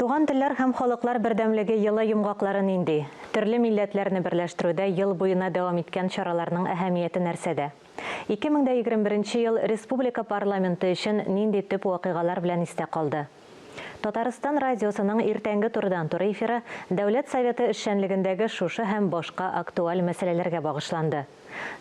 Туган телләр һәм халыклар бердәмлеге елы йомгаклары нинди? Төрле милләтләрне берләштерүдә ел буена дәвам иткән чараларның әһәмияте нәрсәдә? 2021 ел республика парламенты өчен нинди төп вакыйгалар белән истә калды? Татарстан радиосының иртәнге турыдан-туры эфиры Дәүләт Советы эшчәнлегендәге шушы һәм башка актуаль мәсьәләләргә багышланды.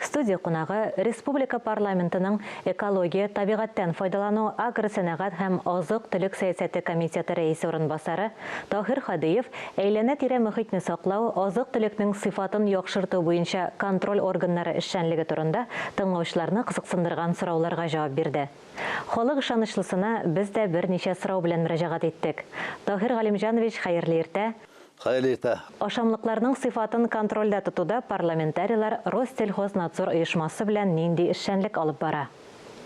Студия кунагы, республика парламентының экология, табигатьтән файдалану, агросәнәгать һәм азык-төлек сәясәте комитеты рәисе урынбасары Таһир Һадиев әйләнә-тирә мөхитне саклау, азык-төлекнең сыйфатын яхшырту буенча контроль органнары эшчәнлеге турында тыңлаучыларны кызыксындырган сорауларга җавап бирде. Халык ышанычлысына без дә берничә сорау белән мөрәҗәгать иттек. Таһир Галимҗанович, хәерле иртә! Хәер иртә. Ашамлыкларның сыйфатын контрольдә тотуда парламентарийлар Россельхознадзор оешмасы белән нинди эшчәнлек алып бара?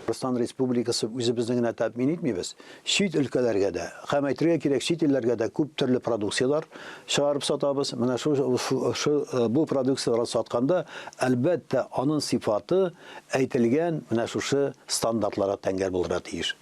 Руслан Республикасы үзебезне генә тәэмин итмибез, чит өлкәләргә дә, һәм әйтергә кирәк, чит илләргә дә күп төрле продукцияләр чыгарып сатабыз. Менә шу шу бу продукцияләр сатканда, әлбәттә, анын сыйфаты әйтелгән менә шушы стандартларга тәңгәл булырга тиеш.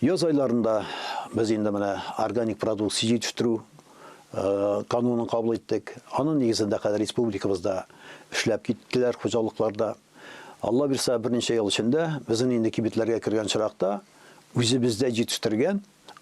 Яз айларында без инде менә органик продукция җитештерү канунын кабул иттек. Аның нигезендә хәзер республикабызда эшләп киттеләр хуҗалыкларда. Алла бирса, берничә ел эчендә безнең инде кибетләргә кергән чиракта үзебездә җитештергән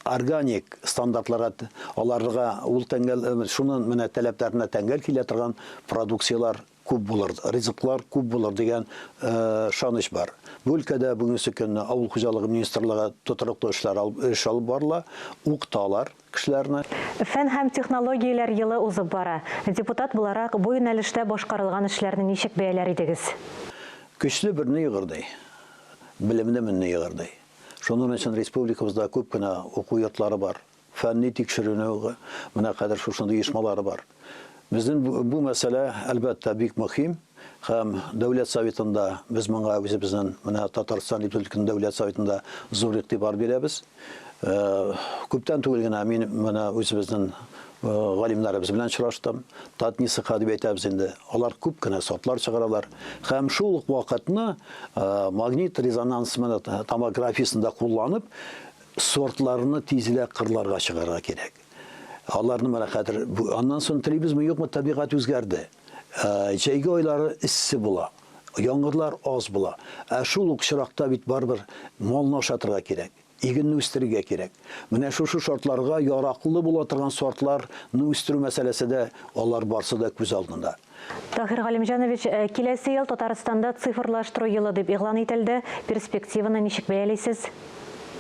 органик стандартларга аларга ул тәңгәл шуның менә таләпләренә тәңгәл килә торган продукцияләр күп булыр, ризыклар күп булыр дигән ышаныч бар. Бу өлкәдә бүгенге көнне авыл хуҗалыгы министрлыгы тотрыклы эшләр эш алып барыла, укыталар кешеләрне. Фән һәм технологияләр елы узып бара. Депутат буларак, бу юнәлештә башкарылган эшләрне ничек бәяләр идегез? Көчле берни егырдый, белемле менни егырдый. Шуның өчен республикабызда күп кенә уку йортлары бар. Фәнни тикшеренү, менә хәзер шушындый оешмалар бар. Безнең бу мәсьәлә, әлбәттә, бик мөһим һәм Дәүләт Советында без моңа үзебезнең, менә Татарстан Республикасының Дәүләт Советында зур игътибар бирәбез. Күптән түгел генә мин менә үзебезнең галимнәребез белән очраштым. Татнисыха дип әйтәбез инде. Алар күп кенә сортлар чыгаралар. Һәм шул ук вакытны магнит резонанс томографиясендә кулланып, Сортларны тизрәк кырларга чыгарга кирәк. Аларны менә хәзер аннан соң телибезме, юкмы, табигать үзгәрде. Ә, җәйге айлары эссе була, яңгырлар аз була. Ә шул ук чыракта бит барыбер малны ашатырга кирәк, игенне үстерергә кирәк. Менә шушы шартларга яраклы була торган сортларны үстерү мәсьәләсе дә, алар барсы да күз алдында. Таһир Галимҗанович, киләсе ел Татарстанда цифрлаштыру елы дип игълан ителде. Перспективаны ничек бәялисез?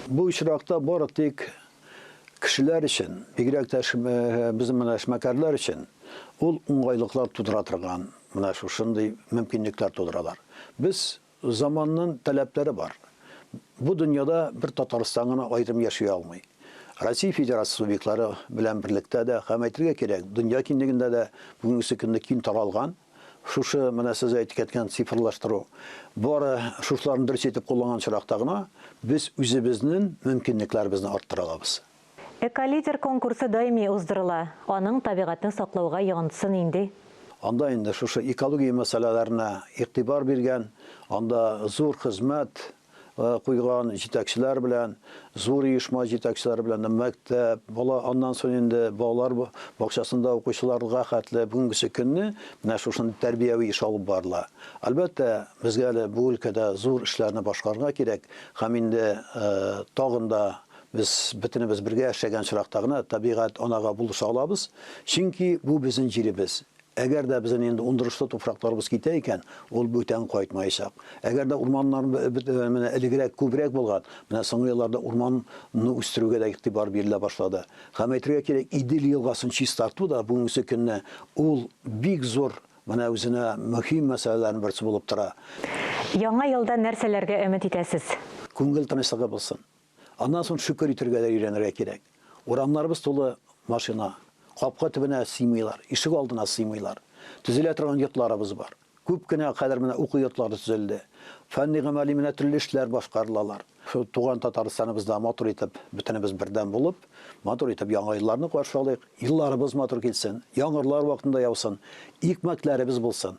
Бу очракта бары тик кешеләр өчен, бигрәк тә безнең менә эшмәкәрләр өчен ул уңгайлыклар тудыра торган менә шушындый мөмкинлекләр тудыралар. Без, Заманнын таләпләре бар. Бу дөньяда бер Татарстан гына аерым яши алмый. Россия Федерациясе субъектлары белән берлектә дә һәм әйтергә кирәк, дөнья киңлегендә дә бүгенгесе көнне киң таралган шушы менә сез әйтек әткән цифрлаштыру. Бары шушыларны дөрес итеп кулланган очракта гына без үзебезнен мөмкинлекләребезне арттыра алабыз. Эколидер конкурсы даими уздырыла, аның табигатьне саклауга йогынтысы нинди? Анда инде шушы экология мәсьәләләренә игътибар биргән, анда зур хезмәт куйган җитәкчеләр белән, зур оешма җитәкчеләре белән дә, мәктәп, бала, аннан соң инде балалар бакчасында укучыларга хәтле бүгенгесе көнне менә шушындый тәрбияви эш алып барыла. Әлбәттә, безгә әле бу өлкәдә зур эшләрне башкарырга кирәк һәм инде тагын да Без бөтенебез бергә яшәгән очракта гына табигать анага булыша алабыз, чөнки бу безнең җиребез. Әгәр дә безнең инде ундырышлы туфракларыбыз китә икән, ул бүтән кайтмаячак. Әгәр дә урманнар менә элегрәк күбрәк булган, менә соңгы елларда урманны үстерүгә дә игътибар бирелә башлады. Һәм әйтергә кирәк, Идел елгасын чистарту да бүгенге көнне ул бик зур менә үзенә мөһим мәсьәләләрнең берсе булып тора. Яңа елда нәрсәләргә өмет итәсез? Күңел тынычлыгы булсын. Аннан соң шөкер итәргә дә өйрәнергә кирәк. Урамнарыбыз тулы машина. Капка төбенә сыймыйлар, ишек алдына сыймыйлар. Төзелә торган йортларыбыз бар. Күп кенә хәзер менә уку йортлары төзелде. Фәнни-гамәли менә төрле эшләр башкарылалар. Шул туган Татарстаныбызда матур итеп, бөтенебез бердәм булып, матур итеп Яңа елларны каршы алыйк. Елларыбыз матур килсен, яңгырлар вакытында яусын, икмәкләребез булсын.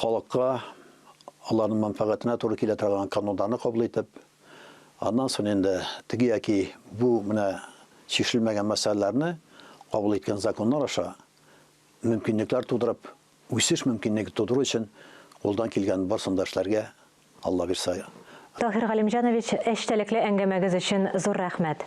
халыкка аларның мәнфәгатенә туры килә торган кануннарны кабул итеп, аннан соң инде теге яки бу менә чишелмәгән мәсьәләләрне кабул иткән законнар аша мөмкинлекләр тудырып, үсеш мөмкинлеге тудыру өчен кулдан килгән барсын да эшләргә, Алла бирса. Таһир Галимҗанович, эчтәлекле әңгәмәгез өчен зур рәхмәт!